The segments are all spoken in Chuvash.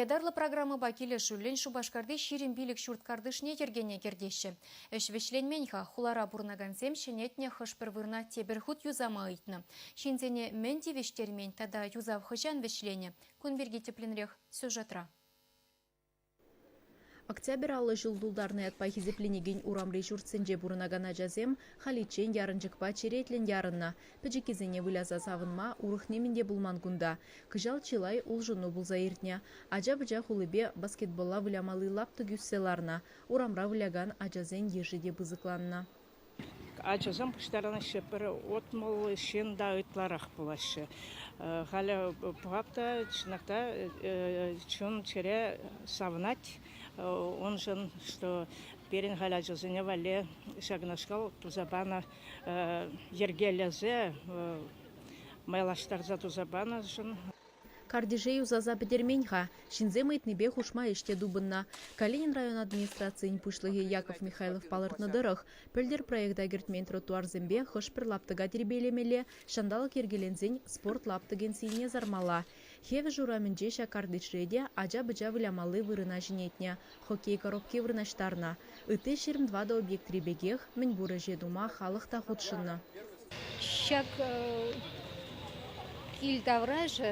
Ятарлӑ программӑпа килӗшӳллӗн Шупашкарти ҫирӗм пилӗк ҫурт картишне йӗркене кӗртеҫҫӗ. Ӗҫ вӗҫленмен-ха, хулара пурӑнакансем ҫӗнетнӗ хӑш-пӗр вырӑна тепӗр хут юсама ыйтнӑ. Ҫынсене мӗн тивӗҫтермен тата юсав хӑҫан вӗҫленӗ, кун пирки тӗплӗнрех сюжетра. Октябрь аллӑ ҫул тултарнӑ ятпа хисепленекен урамри ҫуртсенче пурӑнакан ачасем халиччен ярӑнчӑкпа черетлӗн ярӑннӑ. Пӗчӗккисене выляса савӑнма урӑх нимӗн те пулман кунта. Кӑҫал чылай улшӑну пулса иртнӗ. Ача-пӑча хулипе баскетболла вылямалли лаптӑк ӳссе ларнӑ. Урамра вылякан ачасен йышӗ те пысӑкланнӑ. Ачасем пуҫтарӑнаҫҫӗ пӗр утмӑл ҫын та ытларах пулаҫҫӗ. Халӗ пӑхап та, чӑнах та чун-чӗре савӑнать уншӑн, что пирӗн халь ачасене валли ҫакнашкал туса панӑ йӗркелесе майлаштарса туса панӑшӑн. Картише юсаса пӗтермен-ха, ҫынсем ыйтнипе хушма ӗҫ те тупӑннӑ. Калинин район администрацийӗн пуҫлӑхӗ Яков Михайлов палӑртнӑ тӑрӑх, пӗлтӗр проекта кӗртмен тротуарсемпе хӑш-пӗр лаптӑка тирпейлемелле, ҫанталӑк йӗркеленсен спорт лаптӑкӗн сийне сармалла. Хевӗш урамӗнче ҫак картишре те ача-пӑча вылямалли вырӑна ҫӗнетнӗ. хоккей коробки вырнаҫтарнӑ. Ытти ҫирӗм тӑватӑ объектри пекех, мӗнпур ӗҫе тума халӑх та хутшӑннӑ. Ҫак кил таврашӗ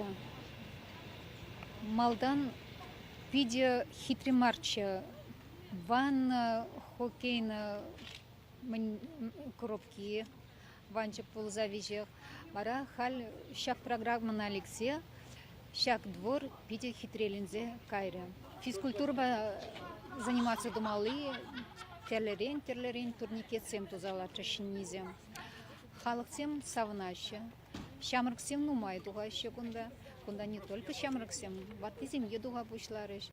малтан питӗ хитре марччӗ. Ванна, хоккейна, коробки, ванчӑк пулса виҫех. Вара халь ҫак программӑна лексе ҫак двор питӗ хитреленсе кайрӗ. Физкультурӑпа заниматься тумалли тӗрлӗрен тӗрлӗрен турникетсем туса лартрӗҫ ҫӗннисем. Халӑхсем савӑнаҫҫӗ. Ҫамрӑксем нумай тухаҫҫӗ кунта. Кунта не только ҫамрӑксем, ваттисем те туха пуҫларӗҫ.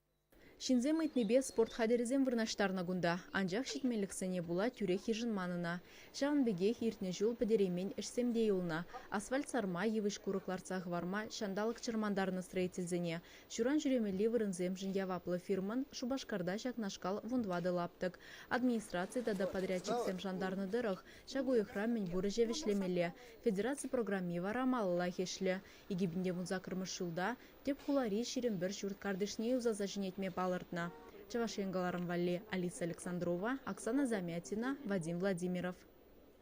Ҫынсем ыйтнипе спорт хатӗрӗсем вырнаҫтарнӑ кунта, анчах ҫитменлӗхсене пула тӳрех йышӑнман ӑна. Ҫавӑн пекех иртнӗ ҫул пӗтереймен ӗҫсем те юлнӑ, асфальт сарма, йывӑҫ-курӑк лартса хӑварма, ҫанталӑк чӑрмантарнӑ строительсене, ҫуран ҫӳремелли вырӑнсемшӗн яваплӑ фирмӑн, Шупашкарта ҫакнашкал вунтӑватӑ-лаптӑк, администраци тата подрядчиксем шантарнӑ тӑрӑх, ҫак уйӑхра мӗнпур ӗҫе вӗҫлемелле. Федераци программи вара малаллах ӗҫлӗ. Икӗ пин те вунсаккӑрмӗш ҫулта тӗп хулари ҫирӗм пӗр ҫурт картишне юсаса ҫӗнетме палӑртнӑ. Чӑваш Ен кӑларӑм валли Алиса Александрова, Оксана Замятина, Вадим Владимиров.